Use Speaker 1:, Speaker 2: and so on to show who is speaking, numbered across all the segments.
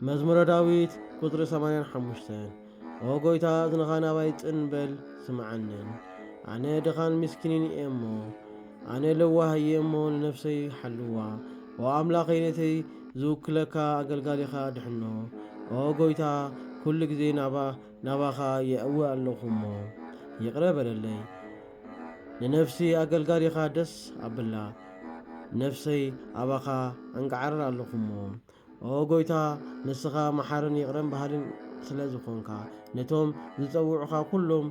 Speaker 1: መዝሙረ ዳዊት ቁጽሪ ሰማንያን ሓሙሽተን ኦ ጐይታ እዝንኻ ናባይ ጽን በል ስምዓንን ኣነ ድኻን ምስኪንን እየ እሞ ኣነ ለዋህ እየ እሞ ንነፍሰይ ሓልዋ ኦ ኣምላኸይ ነተይ ዝውክለካ ኣገልጋሊኻ ድሕኖ ኦ ጐይታ ኩሉ ግዜ ናባ ናባኻ የእዊ ኣለኹ እሞ ይቕረ በለለይ ንነፍሲ ኣገልጋሊኻ ደስ ኣብላ ነፍሰይ ኣባኻ ኣንቃዕርር ኣለኹ እሞ ኦሆ ጎይታ ንስኻ መሓርን ይቕረን በሃልን ስለ ዝኾንካ ነቶም ዝጸውዑኻ ኩሎም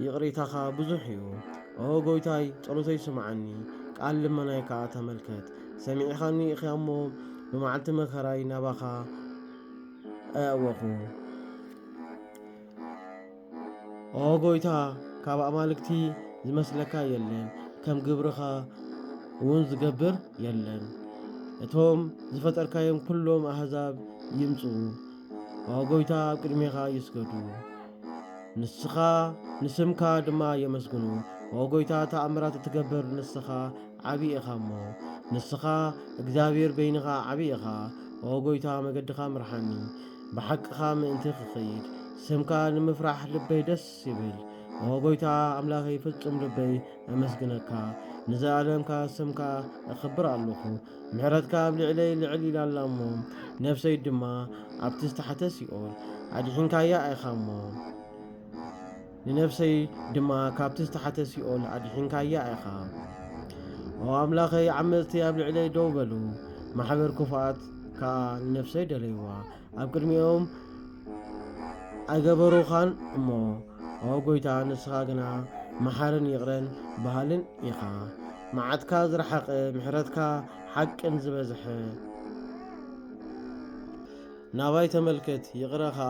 Speaker 1: ይቕሬታኻ ብዙሕ እዩ። ኦሆ ጎይታይ ጸሎተይ ስምዓኒ፣ ቃል ልመናይ ከኣ ተመልከት። ሰሚዕኻኒ ኢኻ እሞ ብመዓልቲ መከራይ ናባኻ ኣእወኹ። ኦ ጎይታ ካብ ኣማልክቲ ዝመስለካ የለን፣ ከም ግብርኻ እውን ዝገብር የለን። እቶም ዝፈጠርካዮም ኩሎም ኣህዛብ ይምጽኡ፣ ኦ ጎይታ ኣብ ቅድሜኻ ይስገዱ። ንስኻ ንስምካ ድማ የመስግኑ፣ ኦ ጎይታ ተኣምራት እትገብር ንስኻ ዓቢ ኢኻ እሞ ንስኻ እግዚኣብሔር በይንኻ ዓቢ ኢኻ ኦ ጎይታ መገድኻ ምርሓኒ ብሓቅኻ ምእንቲ ክኸይድ ስምካ ንምፍራሕ ልበይ ደስ ይብል ኦ ጎይታ ኣምላኸይ ፍጹም ልበይ ኣመስግነካ ንዘለኣለምካ ስምካ እኽብር ኣለኹ ምሕረትካ ኣብ ልዕለይ ልዕል ኢላ ኣላ እሞ ነፍሰይ ድማ ኣብቲ ዝተሓተ ሲኦል ኣድሒንካያ ኢኻ እሞ ንነፍሰይ ድማ ካብቲ ዝተሓተ ሲኦል ኣድሒንካያ ኢኻ። ኦ ኣምላኸይ፣ ዓመፅቲ ኣብ ልዕለይ ደው በሉ፣ ማሕበር ክፉኣት ከዓ ንነፍሰይ ደለይዋ። ኣብ ቅድሚኦም ኣይገበሩኻን እሞ፣ ኦ ጎይታ፣ ንስኻ ግና መሓርን ይቕረን በሃልን ኢኻ። መዓትካ ዝረሓቐ፣ ምሕረትካ ሓቅን ዝበዝሐ፣ ናባይ ተመልከት፣ ይቕረ ከዓ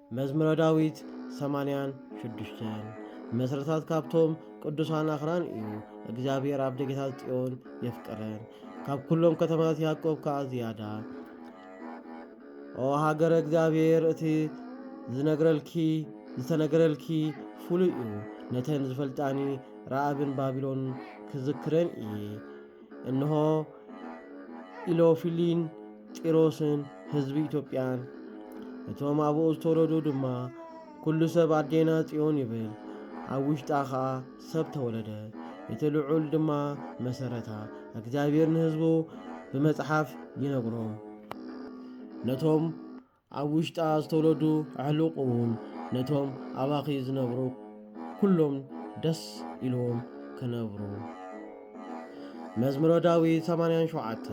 Speaker 1: መዝሙረ ዳዊት ሰማንያን ሽዱሽተን መስረታት ካብቶም ቅዱሳን ኣኽራን እዩ። እግዚኣብሔር ኣብ ደጌታት ጽዮን የፍቅረን፣ ካብ ኩሎም ከተማታት ያዕቆብ ከዓ ዝያዳ። ኦ ሃገረ እግዚኣብሔር እቲ ዝነግረልኪ ዝተነገረልኪ ፍሉይ እዩ። ነተን ዝፈልጣኒ ረኣብን ባቢሎን ክዝክረን እየ። እንሆ ኢሎፊሊን ጢሮስን ህዝቢ ኢትዮጵያን እቶም ኣብኡ ዝተወለዱ ድማ ኩሉ ሰብ ኣዴና ጽዮን ይብል፣ ኣብ ውሽጣ ኸኣ ሰብ ተወለደ፣ እቲ ልዑል ድማ መሰረታ። እግዚኣብሔር ንህዝቡ ብመጽሓፍ ይነግሮም ነቶም ኣብ ውሽጣ ዝተወለዱ ኣሕሉቕ እውን ነቶም ኣባኺ ዝነብሩ ኩሎም ደስ ኢልዎም ክነብሩ። መዝሙረ ዳዊት 87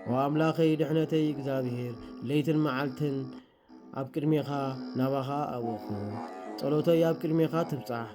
Speaker 1: ኦ ኣምላኸይ ድሕነተይ እግዚኣብሔር ለይትን መዓልትን ኣብ ቅድሜኻ ናባኻ ኣወኹ ጸሎተይ ኣብ ቅድሜኻ ትብጻሕ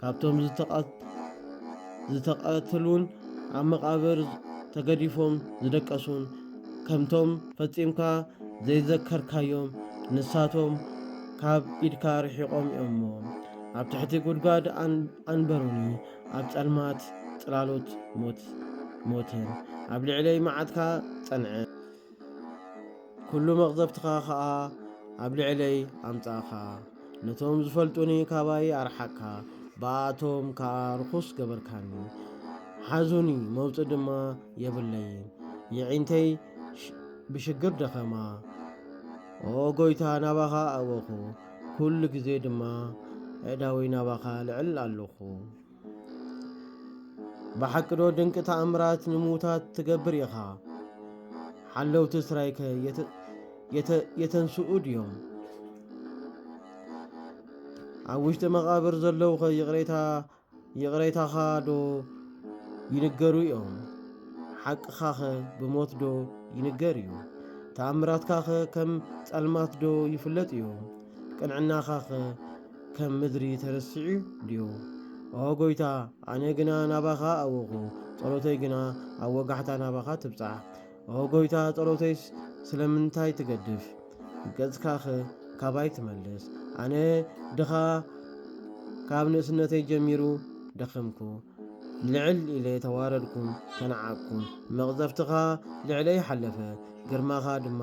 Speaker 1: ካብቶም ዝተቐትሉን ኣብ መቓብር ተገዲፎም ዝደቀሱን ከምቶም ፈጺምካ ዘይዘከርካዮም ንሳቶም ካብ ኢድካ ርሒቖም እዮም'ሞ ኣብ ትሕቲ ጉድጓድ ኣንበሩኒ ኣብ ጸልማት ጽላሎት ሞትን ኣብ ልዕለይ መዓትካ ጸንዐ። ኵሉ መቕዘፍትኻ ኸኣ ኣብ ልዕለይ ኣምጻእካ። ነቶም ዝፈልጡኒ ካባይ ኣርሓቕካ፣ ብኣኣቶም ከኣ ርኹስ ገበርካኒ። ሓዙኒ፣ መውጽእ ድማ የብለይን፣ የዒንተይ ብሽግር ደኸማ። ኦ ጐይታ፣ ናባኻ ኣእወኹ፣ ኵሉ ግዜ ድማ ኣእዳወይ ናባኻ ኣልዕል ኣሎኹ። ብሓቂ ዶ ድንቂ ተኣምራት ንምዉታት ትገብር ኢኻ? ሓለውቲ እስራይከ የተንስኡ ድዮም? ኣብ ውሽጢ መቓብር ዘለዉኸ ይቕሬታኻ ዶ ይንገሩ እዮም? ሓቅኻኸ ብሞት ዶ ይንገር እዩ? ተኣምራትካኸ ከም ጸልማት ዶ ይፍለጥ እዩ? ቅንዕናኻኸ ከም ምድሪ ተረሲዑ ድዩ? ኦ ጐይታ፣ ኣነ ግና ናባኻ ኣወኹ፣ ጸሎተይ ግና ኣብ ወጋሕታ ናባኻ ትብጻሕ። ኦ ጐይታ፣ ጸሎተይስ ስለምንታይ ትገድፍ? ገጽካኸ ካባይ ትመልስ። ኣነ ድኻ ካብ ንእስነተይ ጀሚሩ ደኸምኩ፣ ልዕል ኢለ ተዋረድኩን ተናዓቅኩን። መቕዘፍትኻ ልዕለይ ሓለፈ፣ ግርማኻ ድማ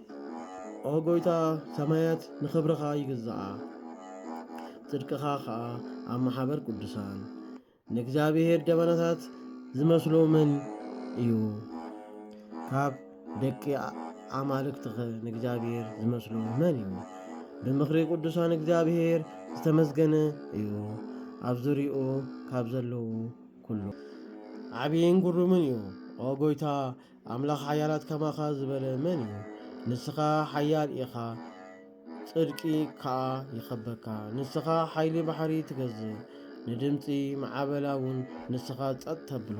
Speaker 1: ኦ ጐይታ፣ ሰማያት ንኽብርኻ ይግዝኣ፣ ጽድቅኻ ኸኣ ኣብ ማሕበር ቅዱሳን ንእግዚኣብሄር ደበናታት ዚመስሎ መን እዩ? ካብ ደቂ ኣማልክትኸ ንእግዚኣብሄር ዚመስሎ መን እዩ? ብምኽሪ ቅዱሳን እግዚኣብሄር ዝተመስገነ እዩ፣ ኣብ ዙርያኡ ካብ ዘለዉ ኵሉ ዓብይን ግሩምን እዩ። ኦ ጐይታ፣ ኣምላኽ ሓያላት ከማኻ ዝበለ መን እዩ? ንስኻ ሓያል ኢኻ፣ ጽድቂ ከኣ ይኸበካ። ንስኻ ሓይሊ ባሕሪ ትገዝእ፣ ንድምጺ ማዕበላ እውን ንስኻ ጸጥ ተብሎ።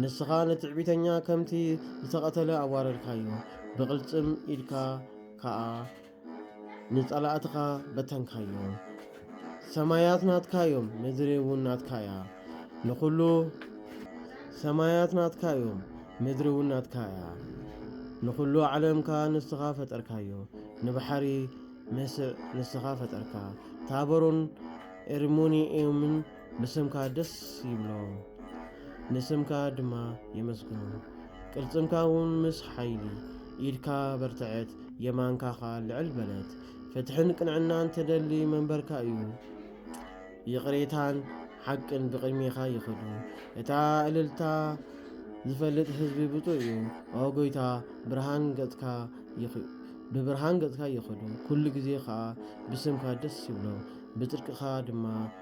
Speaker 1: ንስኻ ንትዕቢተኛ ከምቲ ዝተቐተለ ኣዋረድካዮ፣ ብቕልጽም ኢድካ ከኣ ንጸላእትኻ በተንካዮም። ሰማያት ናትካ እዮም፣ ምድሪ እውን ናትካ እያ። ንኹሉ ሰማያት ናትካ እዮም፣ ምድሪ እውን ናትካ እያ። ንኹሉ ዓለም ከኣ ንስኻ ፈጠርካዮ። ንባሕሪ መስዕ ንስኻ ፈጠርካ፣ ታቦርን ኤርሞንኤምን ብስምካ ደስ ይብሎም ንስምካ ድማ የመስግኑ ቅልጽምካ እውን ምስ ሓይሊ ኢድካ በርትዐት የማንካ ኸኣ ልዕል በለት ፍትሕን ቅንዕናን ተደሊ መንበርካ እዩ ይቕሬታን ሓቅን ብቕድሜኻ ይኸዱ እታ እልልታ ዝፈልጥ ህዝቢ ብፁዕ እዩ ኦ ጎይታ ብርሃን ገጽካ ብብርሃን ገጽካ ይኸዱ ኩሉ ግዜ ኸኣ ብስምካ ደስ ይብሎ ብጽድቅኻ ድማ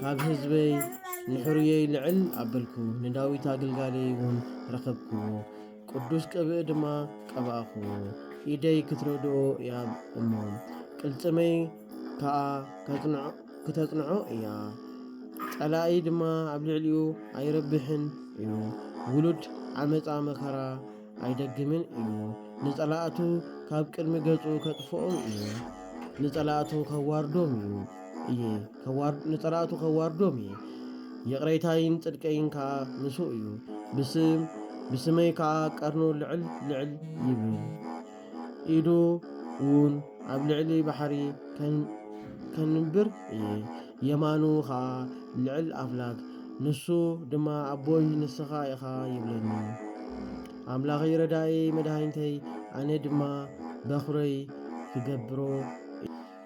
Speaker 1: ካብ ህዝበይ ንሕሩየይ ልዕል ኣበልኩ፣ ንዳዊት ኣግልጋለይ እውን ረኸብክዎ፣ ቅዱስ ቅብእ ድማ ቀባእክዎ። ኢደይ ክትረድኦ እያ እሞ ቅልጽመይ ከኣ ክተጽንዖ እያ፣ ጸላኢ ድማ ኣብ ልዕሊኡ ኣይረብሕን እዩ። ውሉድ ዓመጻ መከራ ኣይደግምን እዩ። ንጸላእቱ ካብ ቅድሚ ገጹ ከጥፍኦም እዩ። ንጸላእቱ ከዋርዶም እዩ እየ ከዋር- ንጸላእቱ ከዋርዶም እየ። ይቕሬታይን ጽድቀይን ከኣ ምስኡ እዩ። ብስም ብስመይ ከኣ ቀርኑ ልዕል ልዕል ይብል። ኢዱ ውን ኣብ ልዕሊ ባሕሪ ከንብር እየ፣ የማኑ ኸኣ ልዕል ኣፍላግ፣ ንሱ ድማ ኣቦይ ንስኻ ኢኻ ይብለኒ። ኣምላኸይ ረዳእየይ መድሃኒተይ ኣነ ድማ በኹረይ ክገብሮ እየ።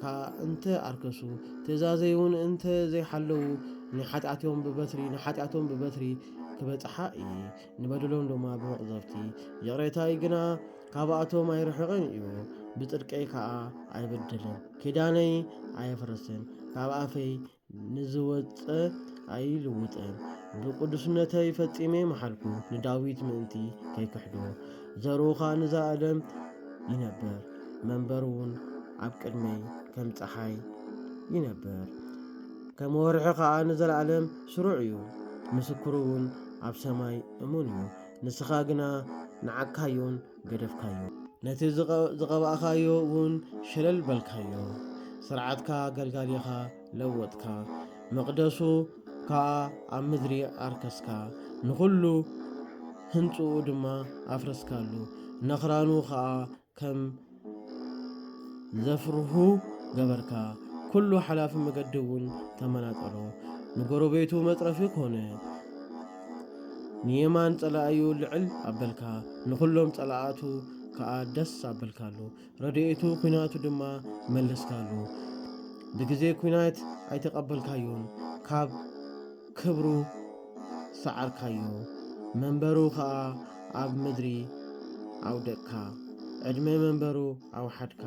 Speaker 1: ከኣ እንተ ኣርከሱ፣ ትእዛዘይውን እንተ ዘይሓለዉ፣ ንሓጢኣትዮም ብበትሪ ንሓጢኣቶም ብበትሪ ክበጽሓ እዪ፣ ንበደሎም ድማ ብመቕዘፍቲ፣ ይቕሬታይ ግና ካብኣቶም ኣይርሕቕን እዩ፣ ብጽድቀይ ከኣ ኣይብድልን፣ ኪዳነይ ኣየፍርስን፣ ካብ ኣፈይ ንዝወጸ ኣይልውጥን ብቅዱስነተይ ፈጺሜ መሓልኩ ንዳዊት ምእንቲ ከይክሕዶ ዘርኡኻ ንዛ ኣለም ይነበር መንበሩውን ኣብ ቅድመይ ከም ፀሓይ ይነበር ከም ወርሒ ኸዓ ንዘለዓለም ስሩዕ እዩ ምስክሩውን ኣብ ሰማይ እሙን እዩ ንስኻ ግና ንዓካዩን ገደፍካዮ። ነቲ ዝቐባእካዮ ውን ሸለል በልካዮ። ስርዓትካ ገልጋሊኻ ለወጥካ። መቕደሱ ከኣ ኣብ ምድሪ ኣርከስካ። ንኹሉ ህንጽኡ ድማ ኣፍረስካሉ። ነኽራኑ ከኣ ከም ዘፍርሁ ገበርካ። ኩሉ ሓላፊ መገዲ ውን ተመናጠሎ። ንጎረቤቱ መጽረፊ ኮነ። ንየማን ጸላኢዩ ልዕል ኣበልካ ንኹሎም ጸላኣቱ ከኣ ደስ ኣበልካሉ ረድኤቱ ኩናቱ ድማ መለስካሉ ብግዜ ኩናት ኣይተቀበልካዩን ካብ ክብሩ ሰዓርካዩ መንበሩ ከኣ ኣብ ምድሪ ኣውደቅካ ዕድመ መንበሩ ኣውሓድካ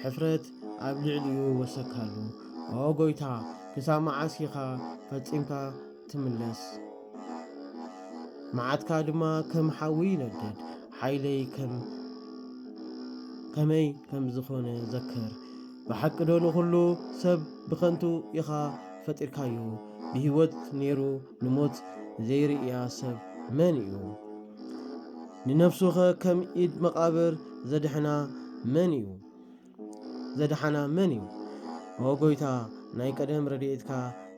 Speaker 1: ሕፍረት ኣብ ልዕሊኡ ወሰካሉ ኦ ጎይታ ክሳብ መዓስ ኢኻ ፈጺምካ ትምለስ መዓትካ ድማ ከም ሓዊ ይነድድ ሓይለይ ከም ከመይ ከም ዝኾነ ዘክር ብሓቂ ዶ ንኹሉ ሰብ ብኸንቱ ኢኻ ፈጢርካዮ ብህይወት ነይሩ ንሞት ዘይርእያ ሰብ መን እዩ ንነፍሱኸ ከም ኢድ መቓብር ዘድሕና መን እዩ ዘድሓና መን እዩ? ኦ ጎይታ ናይ ቀደም ረድኤትካ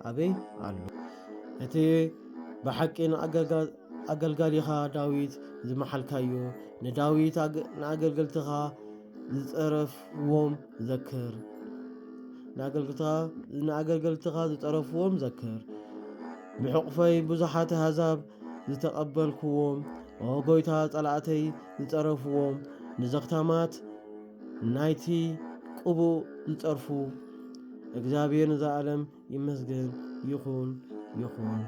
Speaker 1: ኣበይ ኣሎ? እቲ ብሓቂ ንኣገልጋሊኻ ዳዊት ዝመሓልካዮ ንዳዊት ንኣገልገልትኻ ዝጸረፍዎም ዘክር ንኣገልገልትኻ ዝጸረፍዎም ዘክር ብሕቑፈይ ብዙሓት ኣሕዛብ ዝተቐበልክዎም ኦ ጎይታ ጸላእተይ ዝጸረፍዎም ንዘኽታማት ናይቲ ቅቡእ ዝጸርፉ እግዚኣብሔር ንዘለዓለም ይመስገን ይኹን ይኹን።